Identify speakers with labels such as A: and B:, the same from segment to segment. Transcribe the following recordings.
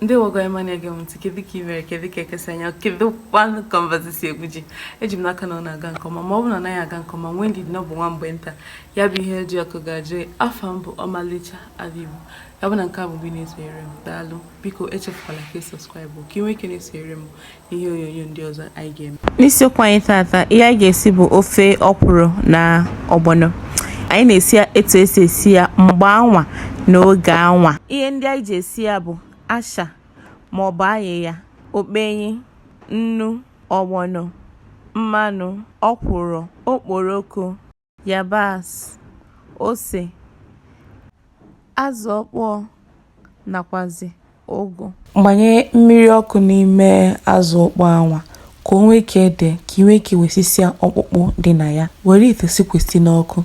A: ndewo gị onye ọma na-ege m ntị kedu ka ị mere kedu ka eke si anya kedu kwanụ ka mbazụ si egwu ji eji m n'aka na ọ na-aga nke ọma ma ọ bụ na ọ naghị aga nke ọma nwee ndidi na ọ bụ nwa mgbe nta ya bụ ihe eji ọkụ ga-ajụ afa m bụ ọmalịcha ada igbo ya bụ na nke a bụ mbụ ị na-esonyere m daalụ biko echefukwala ka ị subscribe ka ị nwee ike na-esonyere m ihe onyonyo ndị ọzọ anyị ga-eme n'isiokwu anyị tata ihe anyị ga-esi bụ ofe ọkwụrụ na ọgbọnọ anyị na-esi ya etu esi esi ya mgbe anwa na oge anwa ihe ndị anyị ji esi ya bụ asha ma ọ bụ ayịya okpenyi nnu ọgbọnọ mmanụ ọkwụrụ okporoko yabasị, ose, azụ ọkpọọ nakwazị ụgụ. Gbanye mmiri ọkụ n'ime azụ ọkpọọ anwa ka o nwee ike dee ka i nwee ike wesịsịa ọkpụkpụ dị na ya. Were ite sikwasị n'ọkụ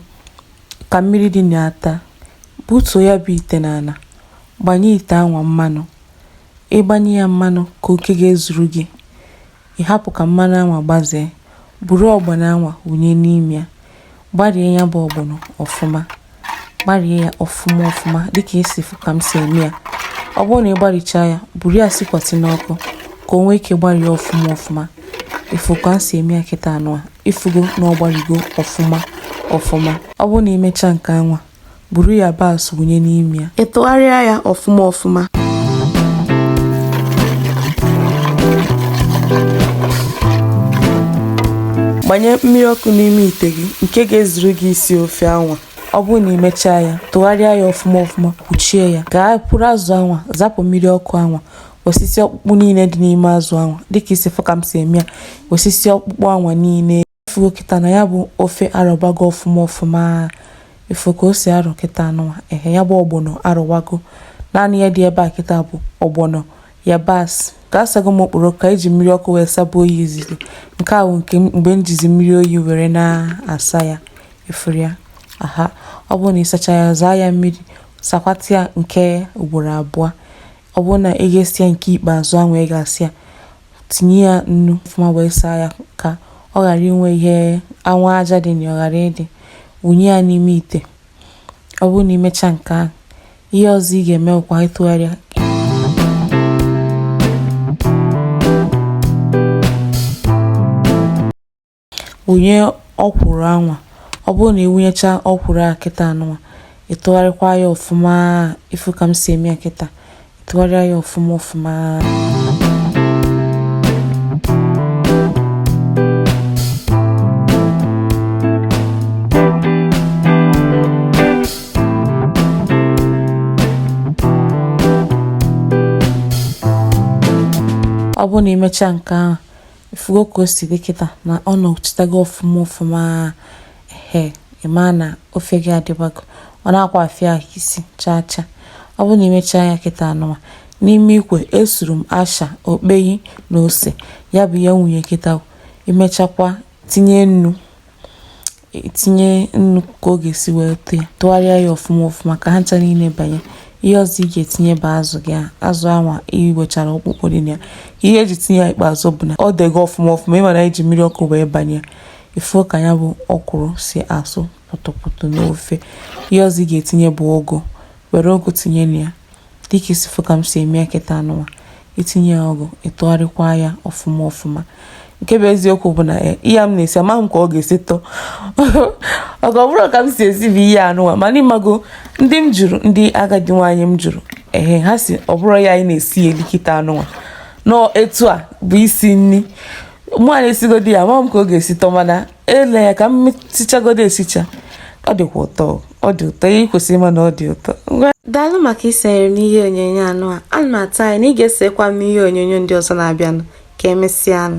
A: ka mmiri dị na ya taa. Butuo ya bụ ite n'ala. Gbanye ite anwa mmanụ. Ị gbanye ya mmanụ ka oke ga-ezuru gị. Ị hapụ ka mmanụ anwa gbazee, buru ọgbọnọ anwa wụnye n'ime ya. Gbarie ya bụ ọgbọnọ ọfụma. Gbarie ya ọfụma ọfụma dịka ị si fụ ka m si eme ya. Ọ bụrụ na ị gbarichaa ya, buru ya sikwasị n'ọkụ ka o nwee ike gbarie ọfụma ọfụma. Ị fụ ka m si eme ya kịta anụwa, ị fụgo na ọ gbarigo ọfụma ọfụma. Ọ bụrụ na i mechaa nke anwa, Buru yabasị wụnye n'ime ya. Ị tụgharịa ya ọfụma ọfụma. Gbanye mmiri ọkụ n'ime ite gị nke ga-ezuru gị isi ofe anwa. Ọ bụrụ na i mechaa ya, tụgharịa ya ọfụma ọfụma, kpuchie ya. Gaa buru azụ anwa, zapụ mmiri ọkụ anwa. Wesịsịa ọkpụkpụ niile dị n'ime azụ anwa. Dịka ị si fụ ka m si eme ya, wesịsịa ọkpụkpụ anwa niile. Ị fụgo kịta na ya bụ ofe arọbago ọfụma ọfụma ị fụ ka o si arọ kịta anụwa ehe ya bụ ọgbọnọ arọwago naanị ihe dị ebe a kịta bụ ọgbọnọ yabasị ka asago m okporoko eji m mmiri ọkụ wee saba ya izizi nke a bụ nke mgbe m jizi mmiri oyi were na-asa ya ị fụrụ ya aha ọ bụrụ na ị sachaa ya zaa ya mmiri sakwata ya nke ugboro abụọ Ọ bụrụ na ị ga-asa ya nke ikpeazụ anwa ị ga-asa ya tinye ya nnu ọfụma wee saa ya ka ọ ghara inwe ihe anwa aja dị na ya ọ ghara ịdị wụnye ya n'ime ite ọ bụrụ na i mechaa nke ahụ ihe ọzọ ị ga-eme bụkwa ịtụgharị ya wụnye ọkwụrụ anwa ọ bụrụ na ịwụnyecha ọkwụrụ a kịta anụwa ịtụgharịkwa ya ọfụma ifu ka m si eme ya kịta ịtụgharịa ya ọfụma ọfụma ọ bụrụ na imecha nke ahụ Ifugo ka o si dị kịta na ọ nọchitago ọfụma ọfụma ehe ị maa na ofe gị adịbago ọ na-akwa afịa ahụ isi chaa chaa ọ bụrụ na imechaa ya kịta anụwa n'ime ikwe esuru m asha okpeyi na ose ya bụ ihe m wụnye kịta imechakwa tinye nnu itinye nnu ka ọ ga-esi wee tụọ ya tụgharịa ya ọfụma ọfụma ka ha ncha niile banye ihe ọzọ ị ga-etinye bụ azụ gị azụ anwa iwechara ọkpụkpụ dị na ya ihe eji tinye ya ikpeazụ bụ na o dego ọfụma ọfụma ịmara eji mmiri ọkụ wee banye ya ifu ka ya bụ ọkwụrụ si asụ pụtụpụtụ n'ofe ihe ọzọ ị ga-etinye bụ ụgụ were ụgụ tinye na ya dịka isi fụ ka m si eme ya kịta anụwa itinye ya ụgụ ịtụgharịkwa ya ọfụma ọfụma nke bụ eziokwu bụ na eh, ihe m na-esi amaghị m ka ọ ga-esi tọọ ọ bụrụ ka m si esi bụ ihe anụwa mana ịmago ndị m jụrụ ndị agadi nwaanyị m jụrụ ehe ha sị ọ bụrụ ya anyị na-esi ya eli kịta anụwa na ọ etu a bụ isi nri mụ a na-esigodi ya amaghị m ka ọ ga-esi tọ mana ele ya ka m sichagodo esicha ọ dịkwa ụtọ ọ dị ụtọ i kwesịrị ịma na ọ dị ụtọ daalụ maka isonyere m n'ihe onyonyo anụwa ana m atụ anya na ị ga-esokwa m n'ihe onyonyo ndị ọzọ na-abịanụ ka emesịanụ